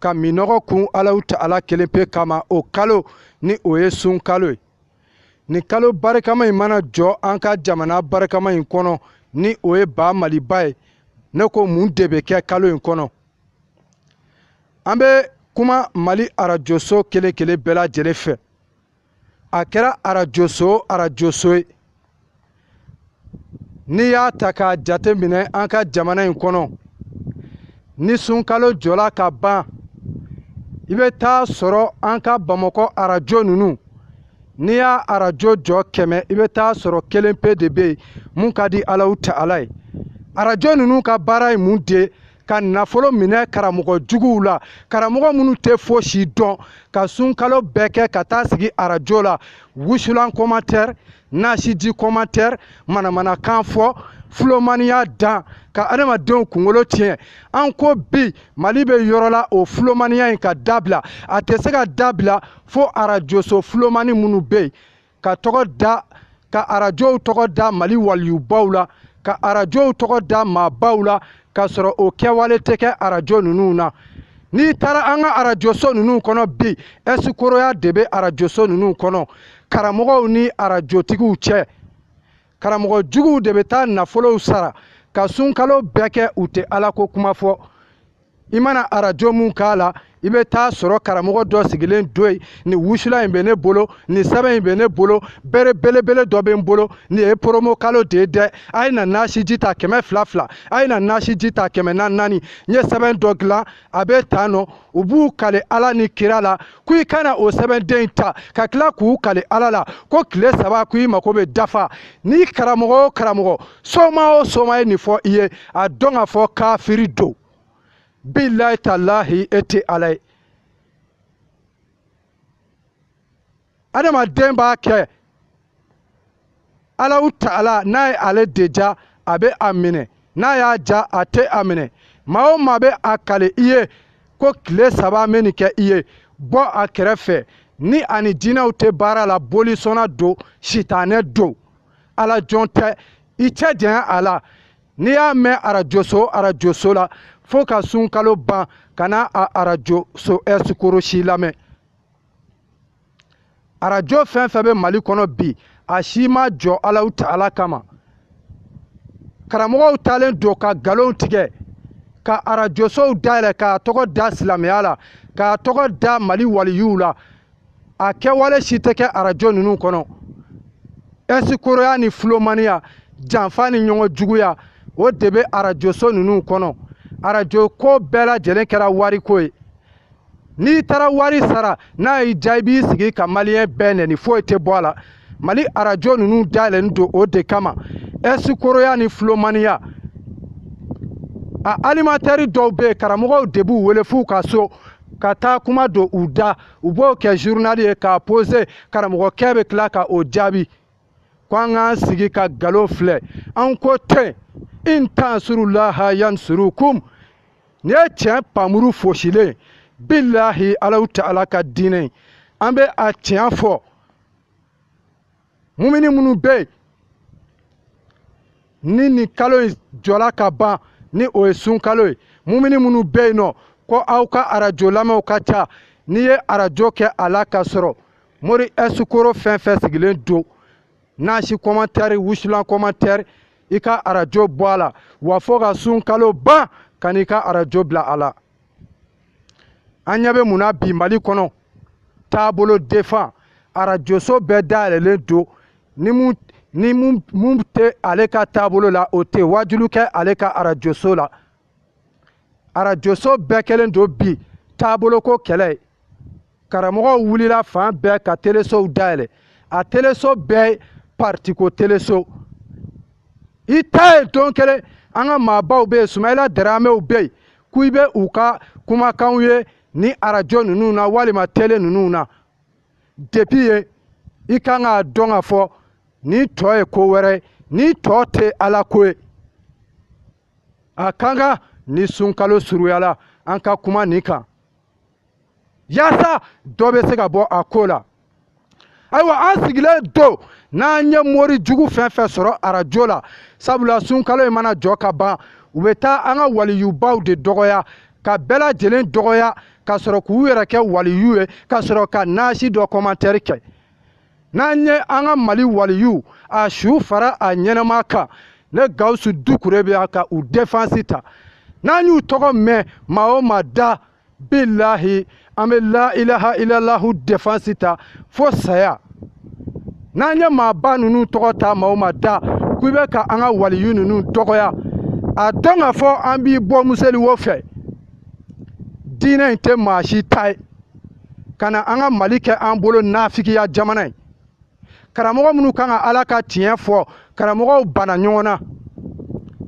ka minnɔgɔ kun alahu taala kelen pe kama o kalo ni o ye sunkalo ye nin kalo barikama in mana jɔ an ka jamana barikama in kɔnɔ ni o ye ba maliba ye ne ko mun de bɛ kɛ kalo in kɔnɔ an bɛ kuma mali arajoso kelen kelen bɛɛ lajɛlen fɛ a kɛra arajoso o arajoso ye n'i y'a ta k'a jate minɛ an ka jamana in kɔnɔ ni sunkalo jɔla ka ban i bɛ t'a sɔrɔ an ka bamakɔ arajo ninnu n'i y'a arajo jɔ kɛmɛ i bɛ t'a sɔrɔ kelen pe de bɛ yen mun ka di alahu taala ye arajo ninnu ka baara ye mun de ye ka nafolo minɛ karamɔgɔ juguw la karamɔgɔ minnu tɛ fosi dɔn ka sunkalo bɛɛ kɛ ka taa sigi arajo la wusulan kɔmatɛri nasiji kɔmatɛri manamanakan fɔ fulomaniya dan ka adamadenw kunkolo tiɲɛ an ko bi mali bɛ yɔrɔ la o fulomaniya in ka dabila a tɛ se ka dabila fo arajoso fulomani minnu bɛ yen ka tɔgɔ da ka arajow tɔgɔ da mali waliyubaw la ka arajow tɔgɔ da maabaw la k'a sɔrɔ o kɛwale tɛ kɛ arajo ninnu na n'i taara an ka arajoso ninnu kɔnɔ bi ɛsikoroya de bɛ arajoso ninnu kɔnɔ karamɔgɔw ni arajotigiw cɛ karamɔgɔ juguw de bɛ taa nafolow sara ka sunkalo bɛɛ kɛ u tɛ ala ko kuma fɔ i mana arajo mun k'a la i bɛ t'a sɔrɔ karamɔgɔ dɔ sigilen don yen nin wusulan in bɛ ne bolo nin sɛbɛn in bɛ ne bolo bere belebele dɔ bɛ n bolo nin ye poromo kalo de ye dɛ a ye na nasiji ta kɛmɛ fila fila a ye na nasiji ta kɛmɛ naani naani n ye sɛbɛn dɔ dilan a bɛ tan nɔ u b'u kale ala ni kira la ko i ka na o sɛbɛnden in ta ka tila k'u kale ala la ko tile saba ko i mako bɛ dafa ni karamɔgɔ o karamɔgɔ soma o soma ye nin fɔ i ye a dɔn ka fɔ kafiri don bilayi talahi e tɛ ala ye adamaden b'a kɛ alahu taala n'a ye ale de ja a bɛ a minɛ n'a y'a ja a tɛ a minɛ maa o maa bɛ a kale i ye ko tile saba n bɛ nin kɛ i ye bɔ a kɛrɛfɛ ni a ni jinɛw tɛ baara la bolisɔnna don sitanɛ don ala jɔn tɛ i cɛ janya a la n'i y'a mɛn arajoso arajoso la fo ka sunkalo ban kana a arajoso ɛsikorosi lamɛn arajo fɛn fɛn bɛ mali kɔnɔ bi a si ma jɔ alahu taala kama karamɔgɔw taalen don ka nkalon tigɛ ka arajosow dayɛlɛ k'a tɔgɔ da silamɛya la k'a tɔgɔ da mali waliyuw la a kɛwale si tɛ kɛ arajo ninnu kɔnɔ ɛsikoroya ni filomaniya janfa ni ɲɔgɔn juguya o de bɛ arajoso ninnu kɔnɔ arajo ko bɛɛ lajɛlen kɛra wariko ye n'i taara wari sara n'a y'i diya i b'i sigi ka maliyɛn bɛɛ nɛni foyi tɛ bɔ a la mali arajo ninnu dayɛlɛlen don o de kama ɛsikoroya ni filomaniya a alimatɛri dɔw bɛ yen karamɔgɔw de b'u wele f'u ka so ka taa kuma don u da u b'o kɛ zurunali ye k'a pose karamɔgɔkɛ bɛ tila ka o jaabi ko an k'an sigi ka nkalon filɛ an ko ten in tansurulaha yansurukum nin ye tiɲɛ npanmuru foosilen bilahi alahu taala ka diinɛ an bɛ a tiɲɛ fɔ mumini minnu bɛ yen ni nin kalo in jɔla ka ban ni o ye sun kalo ye mumini minnu bɛ yen nɔ ko aw ka arajo lamɛnw ka ca n'i ye arajo kɛ a la ka sɔrɔ mori ɛsikoro fɛn fɛn sigilen don nasi kɔmantɛri wusulan kɔmantɛri i ka arajo bɔ a la wa fo ka sun kalo ban ka n'i ka arajo bila a la an ɲɛ bɛ mun na bi mali kɔnɔ taabolo defan arajoso bɛɛ dayɛlɛlen don ni min tɛ ale ka taabolo la o tɛ waajulu kɛ ale ka arajoso la arajoso bɛɛ kɛlen don bi taaboloko kɛlɛ ye karamɔgɔw wulila fan bɛɛ ka telesow dayɛlɛ a teleso bɛɛ partiko teleso i t'a ye don kelen an ka maabaw bɛ yen sumayila daramew bɛ yen ko i bɛ u ka kumakanw ye ni arajo ninnu na walima tele ninnu na depi yen i kan k'a dɔn k'a fɔ nin tɔ ye ko wɛrɛ ye nin tɔ tɛ ala ko ye a kan ka ni sunkalo suruyala an ka kuma nin kan yaasa dɔ bɛ se ka bɔ a ko la ayiwa an sigilen don n'an ye mori jugu fɛn fɛn sɔrɔ arajo la sabula sunkalo in mana jɔ ka ban u bɛ taa an ka waliyubaw de dɔgɔya ka bɛɛ lajɛlen dɔgɔya ka sɔrɔ k'u yɛrɛ kɛ waliyu ye ka sɔrɔ ka nasi dɔ kɔmantɛri kɛ n'an ye an ka mali waliyu a su fara a ɲɛnama kan ne gawusu dukure bɛ yan ka u defansi ta n'an y'u tɔgɔ mɛn maa o maa da bilahi an bɛ la ilaha ilalahu defansi ta fo saya n'an ye maaba ninnu tɔgɔ ta maa o maa da k'i bɛ ka an ka waliyu ninnu dɔgɔya a dɔn k'a fɔ an b'i bɔ museli wo fɛ diinɛ in tɛ maa si ta ye ka na an ka mali kɛ an bolo nafigiya jamana ye karamɔgɔ minnu kan ka ala ka tiɲɛ fɔ karamɔgɔw banna ɲɔgɔn na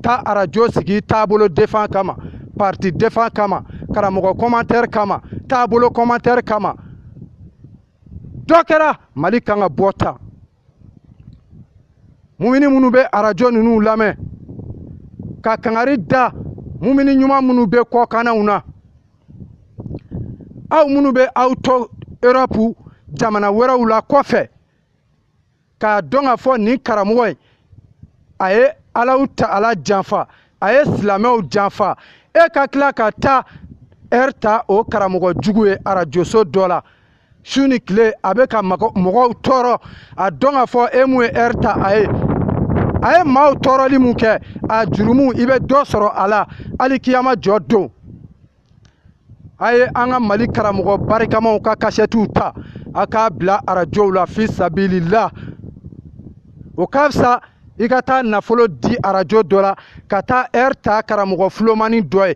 taa arajo sigi taabolo defan kama parti defan kama karamɔgɔ commentaire kama taabolo commentaire kama dɔ kɛra mali kan ka bɔ tan mumini minnu bɛ arajo ninnu lamɛn ka kangari da mumini ɲuman minnu bɛ kɔkannaw na aw minnu bɛ aw to erɔpu jamana wɛrɛw la kɔfɛ k'a dɔn k'a fɔ nin karamɔgɔ in a ye alahu taala janfa a ye silamɛw janfa e ka tila ka taa ɛri ta o karamɔgɔ jugu ye arajoso dɔ la su ni tile a bɛ ka mɔgɔw tɔɔrɔ a dɔn k'a fɔ e mun ye ɛri ta a ye a ye maaw tɔɔrɔli mun kɛ a jurumu i bɛ dɔ sɔrɔ a la hali kiyama jɔ don a ye an ka mali karamɔgɔ barikamaw ka kasɛtiw ta a k'a bila arajow la fi sabilillah o ka fisa i ka taa nafolo di arajo dɔ la ka taa ɛri ta karamɔgɔ fulomani dɔ ye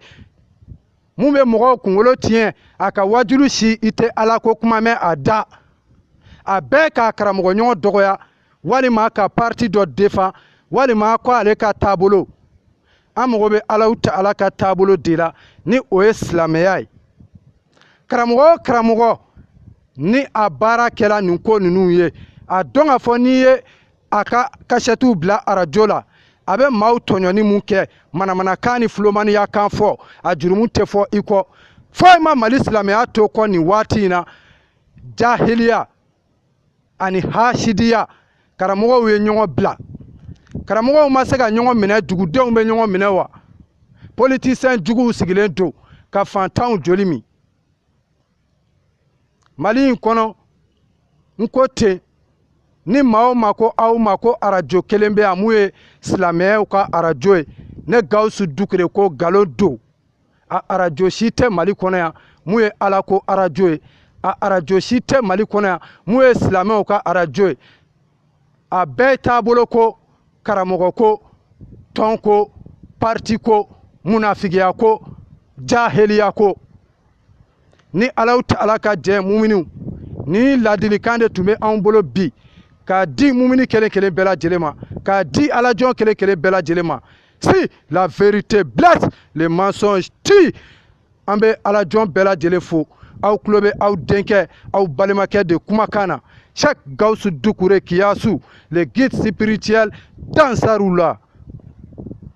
mun bɛ mɔgɔw kunkolo tiɲɛ a ka wajulu si i tɛ ala ko kuma mɛn a da a bɛɛ k'a karamɔgɔɲɔgɔn dɔgɔya walima ka pariti dɔ defan walima ko ale ka taabolo an mago bɛ alahu taala ka taabolo de la ni o ye silamɛya ye karamɔgɔ o karamɔgɔ ni a baara kɛla nin ko ninnu ye a dɔn k'a fɔ n'i ye a ka kasɛtiw bila arajo la a bɛ maaw tɔɲɔni mun kɛ manamanakan ni fulomaniya kan fɔ a jurumu tɛ fɔ i kɔ foyi ma mali silamɛya to kɔ nin waati in na jahiliya ani hasidiya karamɔgɔw ye ɲɔgɔn bila karamɔgɔw ma se ka ɲɔgɔn minɛ dugudenw bɛ ɲɔgɔn minɛ wa politisiyɛn juguw sigilen don ka fantanw joli min mali in kɔnɔ n ko ten ni maa o maa ko aw ma ko arajo kelen bɛ yan mun ye silamɛyaw ka arajo ye ne gawusu dukure ko nkalon don a arajo si tɛ mali kɔnɔ yan mun ye ala ko arajo ye a arajo si tɛ mali kɔnɔ yan mun ye silamɛw ka arajo ye a bɛɛ taabolo ko karamɔgɔ ko tɔn ko parti ko munafigiya ko jahiliya ko ni alahu taala ka jɛ muminiw nin ladilikan de tun bɛ anw bolo bi k'a di mumini kelen kelen bɛɛ lajɛlen ma k'a di alajɔn kelen kelen bɛɛ lajɛlen ma si la vérité blesse le mensonge tue an bɛ alajɔn bɛɛ lajɛlen fo aw tulo bɛ aw denkɛ aw balimakɛ de kumakan na cheikh gawusu dukure kiyasu le guide spirituel d'ansarullah